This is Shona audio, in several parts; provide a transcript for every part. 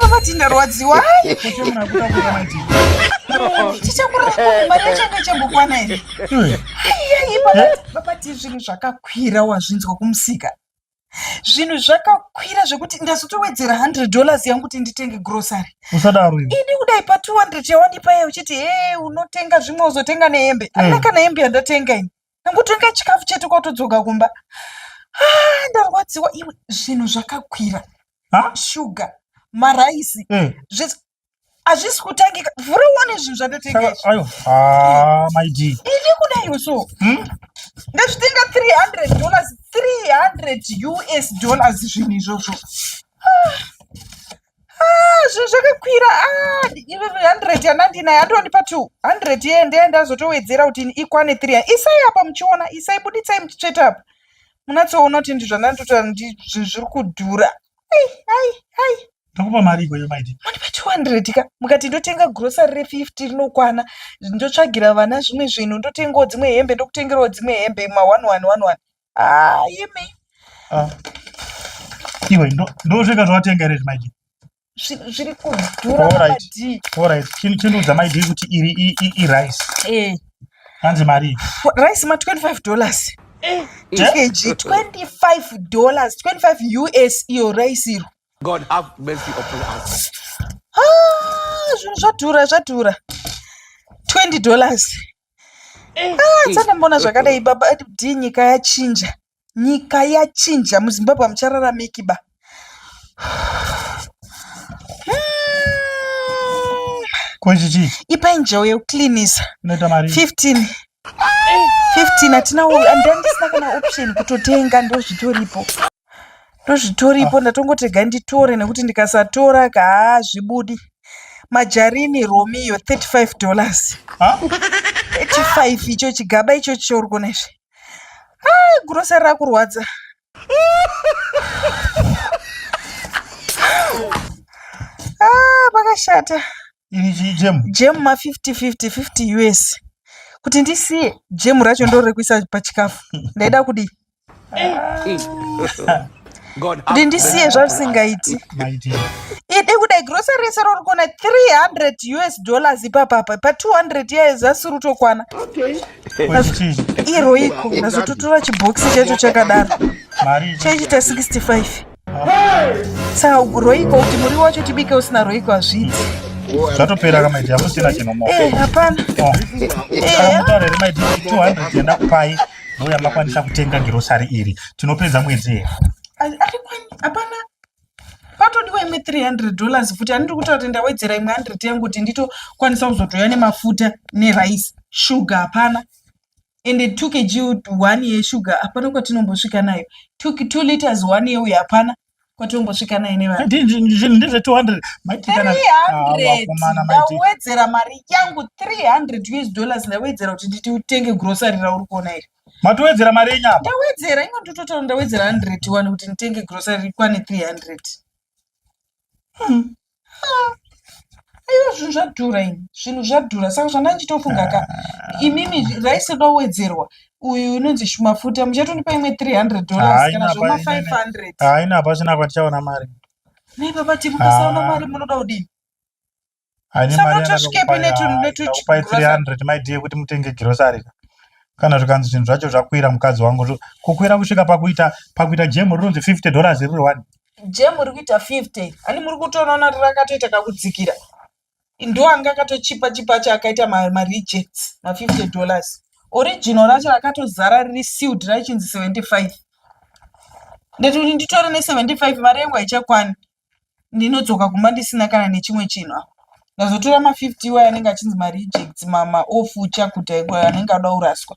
vavati ndarwadziwa chichakuraaachakechembokwana here vavati zvinhu zvakakwira wazvinzwa kumusika zvinhu zvakakwira zvekuti ndazotowedzera 100 dollars yangu kuti nditenge grocery usadaro ini kudai pa 200 yawandipaye uchiti he unotenga zvimwe uzotenga nehembe mm. ana kana hembe yandatenga ini nekutonga chikafu chete kwatodzoka kumba ah, ndarwadziwa iwe zvinhu zvakakwira shuga maraisi eh. hazvisi kutangika vhura uone zvinhu zvatotengaaidi ah, kudaiwo so hmm? ndazvitenga 300 dollars 300 us dollars zvinhu izvozvo ah. Ah, zvinhu zvakakwira ah, ive 100 yandandinayo andondipa 200 yeye ndeye ndazotowedzera kuti ikwane 3 isai apa muchiona isai buditsai muchitsveta apa munatsoona kuti ndizvo ndanditotaura kuti zvinhu zviri kudhura ai ai ai ndokupa mari ikoyo maiti mundipa 200 ka mukati ndotenga grocery re 50 rinokwana ndotsvagira vana zvimwe zvinhu ndotengawo dzimwe hembe ndokutengerawo dzimwe hembe ma 1111 Ah, imi. Ah. Iwe ndo ndo zveka zvatenga ere zvimaji. Zviri kudhura mati. All right. Chini chini udza mai kuti iri i, i, i rice. Eh. Hanzi mari. Rice ma 25 dollars. Eh. Kg 25 dollars, 25 US iyo rice iro. God have mercy upon us. Ah, zvinhu zvadhura zvadhura. 20 dollars. Eh, ah, Sandamboona zvakadai baba kuti nyika yachinja. Nyika yachinja muZimbabwe hamuchararamiki ba. Ko chichi? Ipai njewo yekucleanisa. Unoita mari. 15. 15 hatina handisina kana option kutotenga ndozvitoripo. ndozvitoripo ah. ndatongotega nditore nekuti ndikasatora ka hazvibudi majarini romeo 35 dollars 35 icho chigaba icho chiori kuona izvi ah, gurosari rakurwadza ah, pakashata jemu ma 50 50 50 us kuti ndisiye jemu racho ndorekuisa pachikafu ndaida kudii kuti ndisiye zvavisingaiti idi kudai grocery rese rori kuona 300 us dollars ipapapa pa 200 years asiri utokwana iroiko nazototora chibhokisi chacho chakadaro chaichita 65 Saka roiko kuti muriwo wacho tibike usina roiko hazviiti. Zvatopera kama iti hamusina chino moko. Eh, hapana. Oh. Eh. Kana mutare rima iti 200 yenda kupai. Mbuya makwanisa kutenga girosari iri. Tinopedza mwedzi here? Hapana. Patodiwa imwe 300 dollars futi ani ndikuti kuti ndawedzera imwe 100 yangu kuti nditokwanisa kuzotouya nemafuta nerice. Sugar hapana. ende two kg one yesugar hapana kwatinombosvika nayo two, two liters one yeuyo hapana kwatinombosvika nayo nevanhu ndezve 200 ndawedzera mari yangu 300 us dollars ndawedzera kuti nditi utenge grocery rauri kuona iri matowedzera mari yenyu apa ndawedzera ingo nditotaura ndawedzera 100 wani kuti nditenge grocery rikwane 300 hmm. aiwa zvinhu zvadhura ini zvinhu zvadhura saka zvandandichitofunga ka imimi raisi da kuwedzerwa uyu unonzi mafuta muchatondipa imwe 300 dollars kana zvoma 500 haina hapachina kwatichaona mari nei baba ti mukasaona mari munoda kudini sanotosvikepinetunetupai 300 maidie kuti mutenge girosari ka kana zvikanzi zvinhu zvacho zvakwira mukadzi wangu kukwira kusvika pakuita pakuita jemu rinonzi 50 dollars riri one je muri kuita 50 ani muri kutoona kuti rakatoita kakudzikira ndoanga akatochipa chipa acho akaita marejects ma, ma 50 dollars original racho rakatozara riri sealed raichinzi 75 ndati kuti nditore ne 75 mari yangu haichakwani ndinodzoka kumba ndisina kana nechimwe chinhu apa ndazotora ma 50 iwayo anenge achinzi marejects maoff uchakuta ikwayo anenge ada kuraswa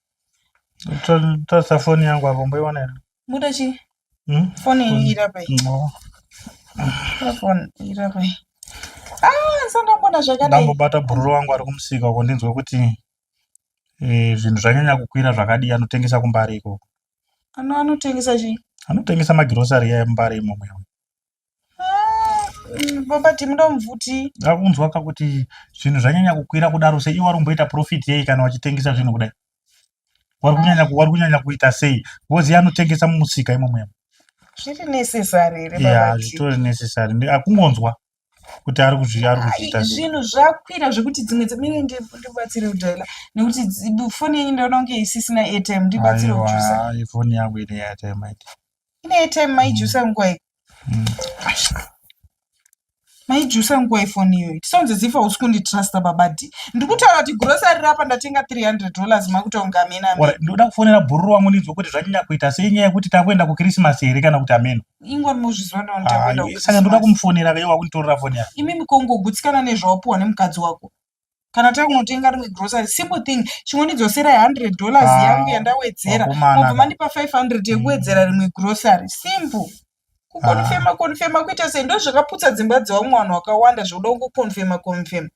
Tasa foni yangu hapo mboiona ina. Muda chi? Hmm? Foni hmm. ira pai. No. Foni ira pai. Ah, sanga mbona zvakadai. Ndambobata bhururu wangu ari kumusika uko ndinzwe kuti eh zvinhu zvanyanya kukwira zvakadii anotengesa kumbari ikoko. Ano anotengesa chi? Anotengesa magirosari ya mbari imomo. Baba Tim ndomvuti. Ndakunzwa ka kuti zvinhu zvanyanya kukwira kudaro sei iwari kumboita profit yei kana wachitengesa zvinhu kudai. Wari kunyanya wari kunyanya kuita sei? Ngozi yanotengesa mumusika imo muyemo. Zviri necessary here baba? Yeah, zvitori necessary. Ndi akungonzwa kuti ari kuzvi ari kuzviita. Zvinhu zvakwira zvekuti dzimwe dzimene ndi ndibatsire kudhela nekuti foni yenyu ndononge isisina airtime ndibatsire kujusa. Aiwa, foni yangu ine airtime. ine airtime maijusa nguwai mm. maijusa nguwai foni iyoyi tisonzi zifa usi kunditrusta babadi ndiri kutaura kuti grosari rapa ndatenga 300 dollars makutaunga amena ndoda kufonera bhururu wangu ndinzwa kuti zvanyanya kuita sei nyaya yekuti takuenda kukrisimasi here kana kuti ameno ingwa muzviziva naondakuendasaka ndoda kumufonera veiwa kunditorera foni yako imi mikongogutsikana nezvawapuwa nemukadzi wako kana takunotenga rimwe grocery simple thing chingondidzosera 100 dollars ah, yangu yandawedzera mobva mandipa 500 yekuwedzera mm. rimwe grocery simple kukonfema ah. konfema kuita sei ndo zvakaputsa dzimba dzevamwe vanhu wakawanda zvokuda kungokonfema konfema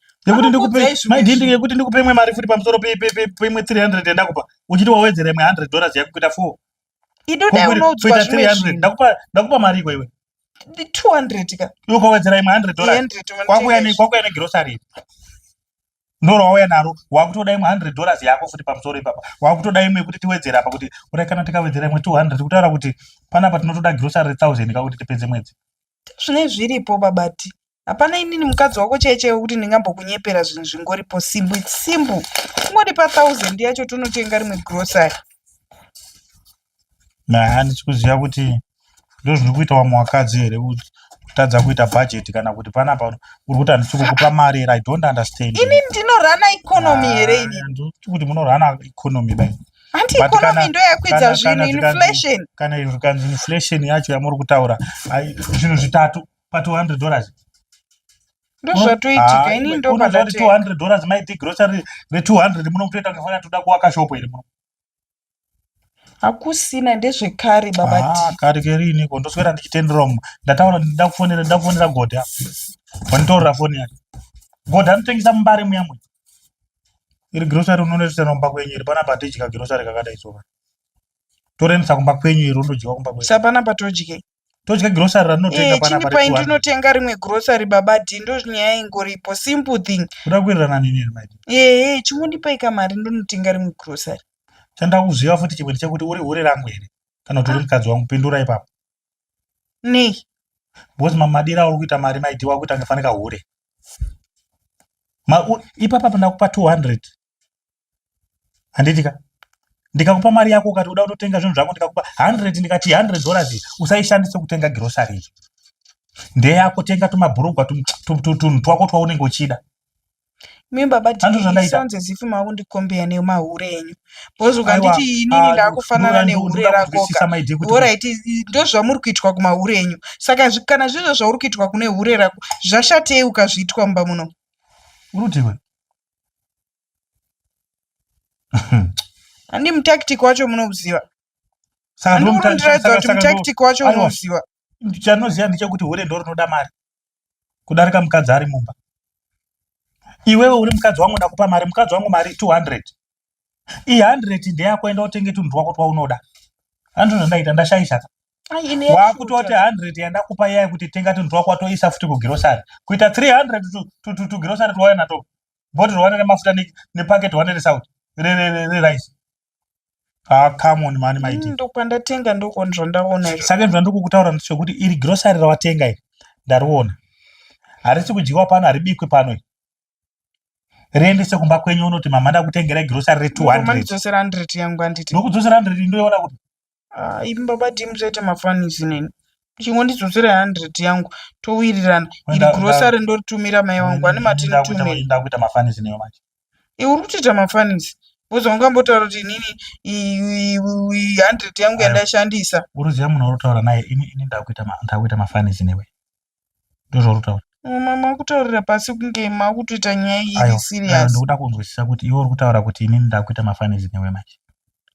yekuti ndikupe imwe mari futi pamusoro peimwe 300 yandakupa uchiti wawedzera imwe 100 dollars yakukuita 4 Idi dai unoudzwa zvimwe zvinhu. Ndakupa ndakupa mari iko iwe. 200 ka. Iwe kwawedzera imwe 100 dollars. Kwakuya ne kwakuya ne grocery. Ndoro wauya naro wakutoda imwe 100 dollars yako futi pamusoro ipapa. Wakutoda imwe yekuti tiwedzera apa kuti urai kana tikawedzera imwe 200 kutaura kuti panapa tinotoda grocery 1000 ka kuti tipedze mwedzi. ndozvinenge zviripo baba T hapana inini mukadzi wako chaiye chaiye wekuti ndingambokunyepera zvinhu zvingoripo simbu its simbu kungondipa thousand yacho tonotenga rimwe grocery nah handisi kuziva kuti ndozviri kuita wamwe wakadzi here kutadza kuita budget kana kuti panapa uri kuti handisi kukupa mari here i don't understand ini ndinorana economy here ini kuti munorana economy bai Hanti But kana- economy ndo yakwidza kana- zvinhu kana zvikanzi- inflation. kana zvikanzi inflation yacho yamuri kutaura ai, zvinhu zvitatu pa 200 dollars Ndozvatoitika Ah, ini unoziva kuti ndopandati. 200 dollars maiti grocery re 200 muno kutoita kufana toda kuwaka shop iri muno Hakusina ndezvekare baba Ah, T. kari keri iniko ndoswera ndichitendera umu ndataura ndida kufonera ndida kufonera godha wanditorera foni yake godha anotengesa mumbare muya muya iri grocery unonoisira kumba kwenyu iri panapa hatidya grocery kakadai so torendesa kumba kwenyu iri unodyiwa kumba kwenyu sa panapa todye todya grocery ratinotenga eh, panapa pai ndinotenga rimwe grocery baba dhi ndozvinyaya ingoripo simple thing kuda kuwirirana nini iri mai ehe eh, chingondipai kamari ndonotenga rimwe grocery chandakuziva futi chimwe ndechekuti uri hure rangu here kana kuti uri ah. mukadzi wangu pindura ipapo nei because mamadira auri kuita mari maiti wakuita ngefanika hure ipapa pandakupa 200 handitika ndikakupa mari yako ukati uda kutotenga zvinhu zvako ndikakupa 100 ndikati 100 dollars usaishandise kutenga grocery ndeyako tenga tumabhurugwa tunhu twako twaunenge uchida Imi baba Dee sounds as if makundikombeya nemahure enyu because ukanditi inini ndakufanana nehure rakoka horait ndozvamuri kuitwa kumahure enyu saka kana zvizvo zvauri kuitwa kune hure rako zvashatei ukazviitwa mumba muno urutiwe handi mutactic wacho munoziva andikurondiraidza kuti mutactic wacho unoziva chanoziva ndechekuti hure ndorinoda mari kudarika mukadzi ari mumba iwewe uri mukadzi wangu ndakupa mari mukadzi wangu mari 200 i 100 ndeyako enda utenge tunhu twako twaunoda andizvo zvandaita ndashaishaka wakutoti 100 yandakupa iya yekuti tenga tunhu twako watoisa futi kugirosari kuita 300 tugirosari twawana to bhodhi rwawana remafuta nepaketi wane resaut rerice Ah, come on mani maiti. Mm, ndokwandatenga ndoko zvandaona izvo. Saka izvo ndokukutaura ndicho kuti iri grocery rawatenga iri ndariona. Harisi kudyiwa pano haribikwe pano iri. Riendese kumba kwenyu unoti mama ndakutengerai grocery re 200. Ndokuma ndidzosera 100 yangu handiti. Ndokudzosera 100 ndoiona kuti Ah, imi baba Dim zvoita mafanisi neni. Chingondidzoserai 100 yangu towirirana. Iri Nda- grocery ndoritumira mai wangu ane mati Ndakuita- nditumire. ndakuita mafanisi newe manje Iwe uri kutoita mafanisi. Boza ungambotaura kuti inini i- i- i- 100 yangu Ayo. yandaishandisa. uruziva munhu wautaura naye ini ini ndakuita ma- ndakuita mafanisi newe ndozvaurikutaura mama makutaurira pasi kunge makutoita nyaya iyi iri serious ndokuda kunzwisisa kuti iwe uri kutaura kuti inini ndakuita mafanisi newe manje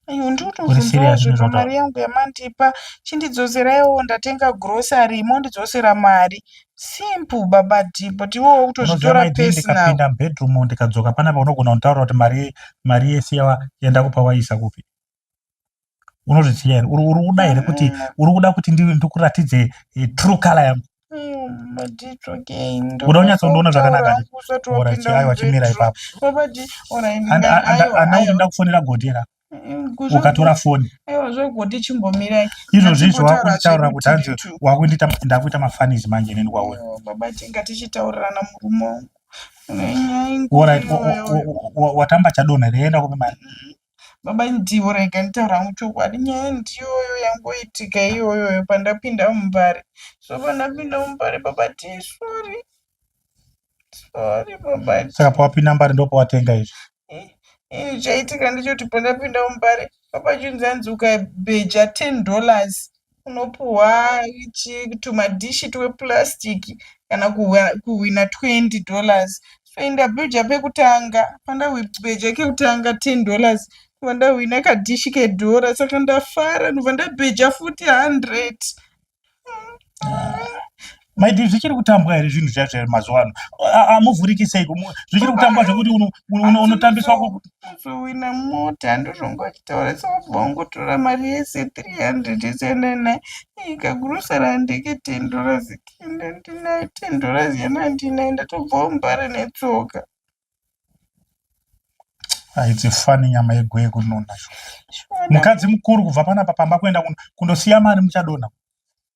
ayo ndotozvozveka mari yangu yamandipa chindidzoseraiwo ndatenga grocery mondidzosera mari simple baba di but iwe wakutozvitora personaldikapinda mubedroom ndikadzoka panapa unogona kunditaurira kuti mari mari yese yawa yandakupa waisa kupi unozviziva here uri kuda here kuti eh. uri kuda kuti ndikuratidze eh, true color yangu kuda unyatsondiona zvakanakaaiwa chimira ipapo ana kuti ndakufonera godera mm, ukatora foni izvozvi izvo wakunditaurira kuti hanzi wakundiita ndakuita mafanizi manje neni kwauri watamba chadonha reienda kupi mari mm. Baba Indivo rega nditaure hangu chokwadi nyaya ndiyoyo yangoitika iyoyoyo pandapinda mumbare so pandapinda mumbare baba ti sorry sorry baba ti saka pawapinda mbari ndopawatenga izvi ii chaitika ndechoti pandapinda mumbare baba chinzi anzi ukabeja ten dollars unopuhwa tumadhishi tweplastic kana kuhwina 20 dollars toenda bhuja pekutanga pandabheja kekutanga 10 dollars ndobva ndahwina kadhishi kedhora saka ndafara ndobva ndabheja futi 100 maiti zvichiri kutambwa here zvinhu zvaizvo here mazuva ano amuvhuriki sei zvichiri kutambwa zvekuti unotambiswa kuzowina mota ndozvongochitaura sokubva ungotora mari yese 300 isenene ika gurusa randike tendora zikinde ndinayo tendora ziyana ndinayo ndatobva umbare netsoka haidzi fani nyama yegwee kunona mukadzi mukuru kubva panapa pamba kuenda kundosiya mari muchadonha